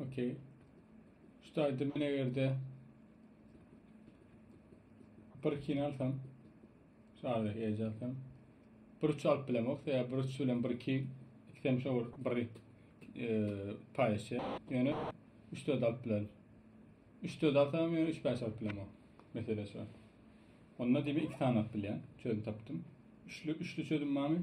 Okey. Şu taýda men egerde bir kini alsam, şu aradaki eje alsam, bir üç alyp bilemok, ya bir üç bilen bir iki, iki tane şey olur, bir e, paylaşıyor. Yani üç dört alıp bilerim. Üç dört alsam yani üç beş alıp bilemok. Mesela şu an. Onda demi iki tane alıp bilen, çözüm taptım. Üçlü, üçlü çözüm var mı?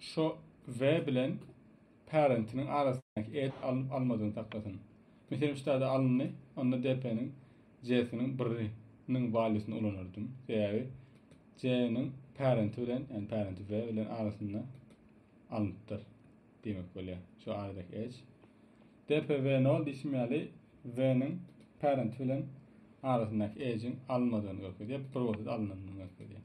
Şu we bilen parentiniň arasyndaky et alnyp almadygyny saklasyn. Meselem şu taýda alyndy, onda DP-niň J-siniň birri niň valuesyny ulanardym. Sebäbi J-niň parenti bilen, ýani parenti we bilen arasynda alnypdyr diýmek bolýar. Şu aradaky edge. DP we nol diýşim ýaly V-niň parenti bilen arasyndaky edge-iň alynmadygyny görkezýär. Bir bolsa-da alynandygyny görkezýär.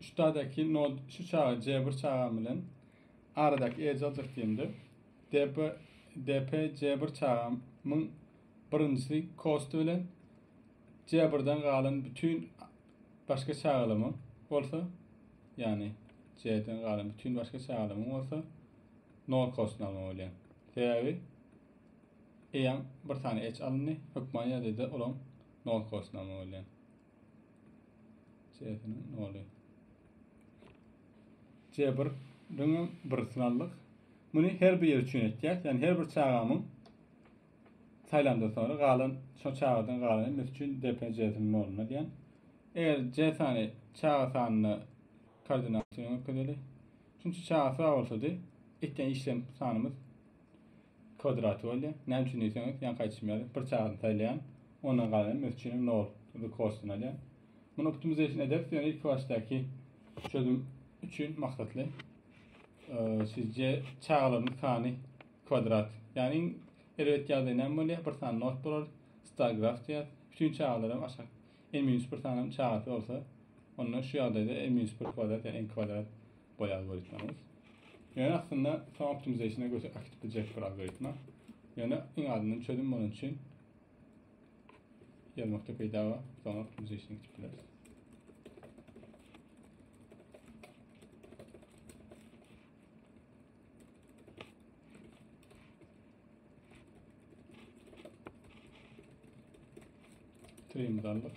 Şutadaki nod şu çaga C1 çaga bilen aradaki edge alacak diýende DP DP C1 çaga myn birinjisi cost bilen C1'den galan bütün başka çagalamyň bolsa yani C'den galan bütün başka çagalamyň bolsa nol cost alma bolýar. Sebäbi eýan bir tane edge alyndy, hökman ýerde de olaň Nol kosnama bolýar. C'siniň noly. C bir döňem bir synaldyk. Muny her bir ýer üçin etýäs. Ýani her bir çagamyň saýlandan soňra galan şo çagadan galan mes üçin DP C'siniň noluna diýen. Eger C sany çaga sanyna koordinat üçin öküzeli. Çünki çaga sag bolsady, etýän işlem sanymyz Kwadrat boldy. Näme üçin diýseňiz, ýaňky aýdyşym ýaly, bir çagyny saýlaýan, ondan galanam mes üçinem nol the cost-dan alýan. Muny optimization ederis, ýöne ilki başdaky çözüm üçin maksatly. Sizce çagalaryň sany kwadrat. Ýagny iň erbet ýagdaý näme bolýar? Bir sany not bolar, star graf diýer. Bütün çagalar hem aşak. N-1 sanam çagasy bolsa, onda şu ýagdaýda N-1 kwadrat ýa N kwadrat goýy algoritmamyz. Ýöne aslynda soň optimizationa göçüp akit biljek bir algoritma. Ýöne iň azyndan çözüm bolan üçin ýazmakda peýda bar. Soň optimizationa gitip bileris. Trimimizi aldyk.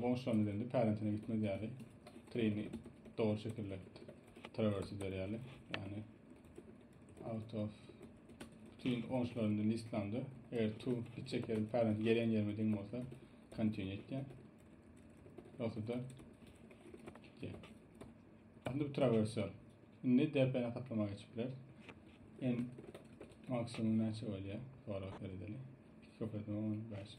Goňşularym bilen de pärentine gitmez ýaly trini dogry şekilde travers eder ýaly. Ýani out of bütün goňşularymda listlamda eger tu gitjek ýerim pärent gelen ýerime deň bolsa continue etýän. Ýogsa da gitýän. Aslında bu traversör. Indi DPN katlama geçip biler. En maksimum näçe bolýar? Sorag beredeli. Köpeltme 15.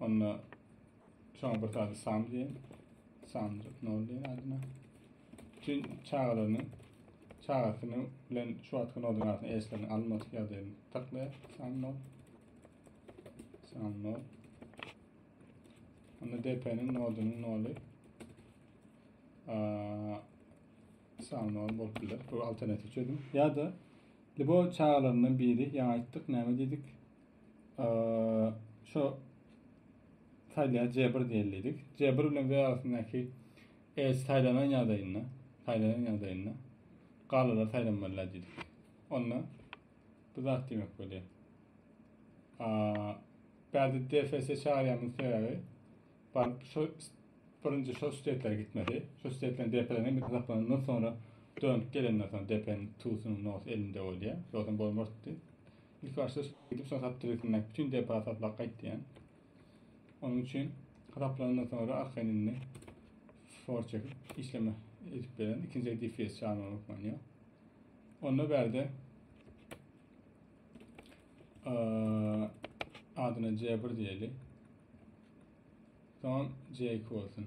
Onda şoňa bir sany sam diýen. Samjyk nol diýen adyna. Bütün çagalaryny çagasyny bilen şu wagtky nodun arasynda eşlerini almadyk ýagdaýyny taklaýar. Sam nol. Sam nol. Onda DP-niň nodunyň noly sam nol bolup biler. Bu alternativ çözüm. Ya da libo çagalaryndan biri ýaňa aýtdyk, näme diýdik? şu saýlaýa cebir diýildik. Cebir bilen we arasyndaky e, saýlanan ýagdaýynda, saýlanan ýagdaýynda galalar saýlanmalylar diýdik. Onda bu zat diýmek bolýar. Bärde DFS çagyrýanmyň sebäbi baryp şu birinji şu stetlere gitmeli. Şu stetlerin DP'den bir hasaplanandan sonra dönüp gelenden sonra DP'nin tutunyň nos elinde bolýar. Ýogsa bolmazdy. Ilkibaşda şeýdip, soň saptiresindäki bütin depa saplap gaýt diýýän. Onuň üçin saplanandan soňra arkaýyn indi for çekip işleme edip beren. Ikinji DFS çagma hökmany Onda bärde adyna C1 diýeli. Soň C2 bolsun.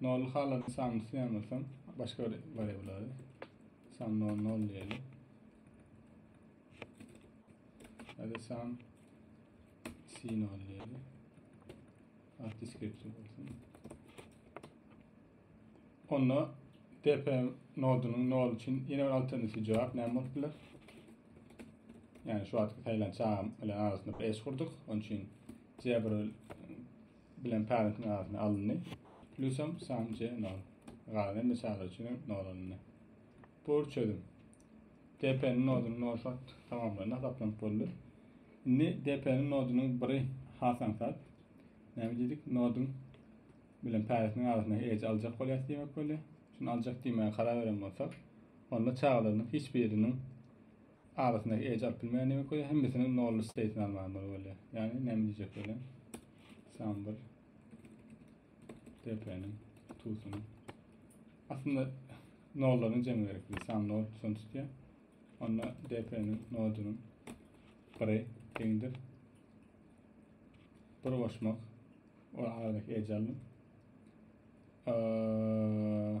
Nol halan sanyny synamasaň, başga bir wariablary san nol nol diýeli. Hadi san sin nol diýeli. Arti skripti bolsun. Onda DP nodunun nol için yine bir alternatif cevap ne bolup biler? Yani şu atki saylan çağım ile arasında bir eş kurduk. Onun için C1 bilen parentiň arasyna alyndy. Plusam sam c nol. Galan de çaga üçin nol alyndy. Pur çözüm. DP-niň nodunyň nol fakt tamamlandy, hasaplanyp boldy. Indi DP-niň nodunyň biri hasansat. Näme diýdik? Noduň bilen parentiň arasyna ej aljak bolýar diýmek bolýar. Şunu aljak diýmäge karar beren bolsak, onda çagalarynyň hiç biriniň Arasyndaky edge alyp bilmeýän demek bolýar. Hemmesiniň nolly state-ini almaga bolmaly bolýar. Ýagny näme diýjek bolýar? Sample DP-niň tutuny. Aslynda nollaryň jemi gerek. Sam nol son tutýar. Onda DP-niň nodunyň biri deňdir. Bir goşmak. O aradaky edge aldım. Ee,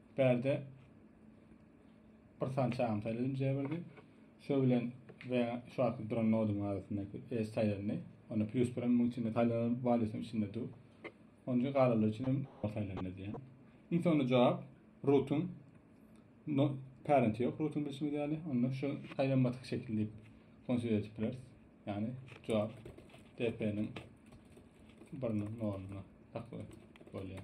Perde bir san çagam saýlap injä birdi. Şo bilen we şu akyp duran nodum arasynda es saýlandy. Onda plus birim muň içinde saýlanan valýusyň içinde dur. Onja galalar üçin hem saýlandy diýen. Iň soňunda jogap rootun no parent ýok rootun bilşimiz ýaly. Onda şu saýlanmadyk şekil diýip konsider edip bileris. Ýani jogap DP-niň biriniň noduna taklyp bolýar.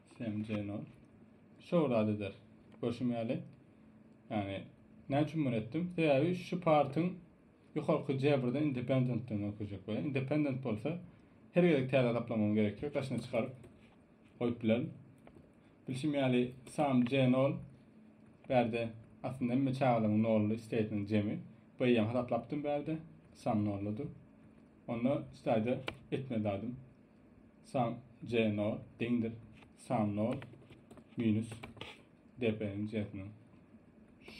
Semjenok. Şo bir zat eder. Görşüm ýaly. Ýagny näme üçin muny etdim? Sebäbi şu partyň ýokarky Jebirde independentden öküjek we independent bolsa her gezek täze gaplamagyň gerek ýok. Daşyna çykaryp goýup bilerin. Bilşim ýaly Sam J0 bärde aslynda hemme çagalaryň nolly isteýtiniň jemi. Beýýem hasaplapdym bärde. Sam nolludy. Onda istaýda etmeli dadym. San c 0 deňdir san 0 minus dpniň c'siniň.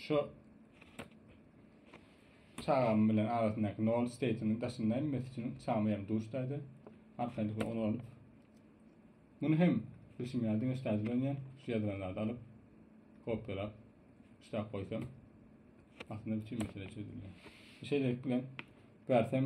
Şu çagam bilen arasyndaky 0 state'iniň daşynda inmesi üçin çagamy ýaly duşdaýda arkaýynlyk bilen onu alyp muny hem bilşim ýaly diňe ştaýda dönýän şu ýazylan zady alyp kopýalap ştap goýsam aslynda bütün mesele çözülýär. Şeýlelik bilen bersem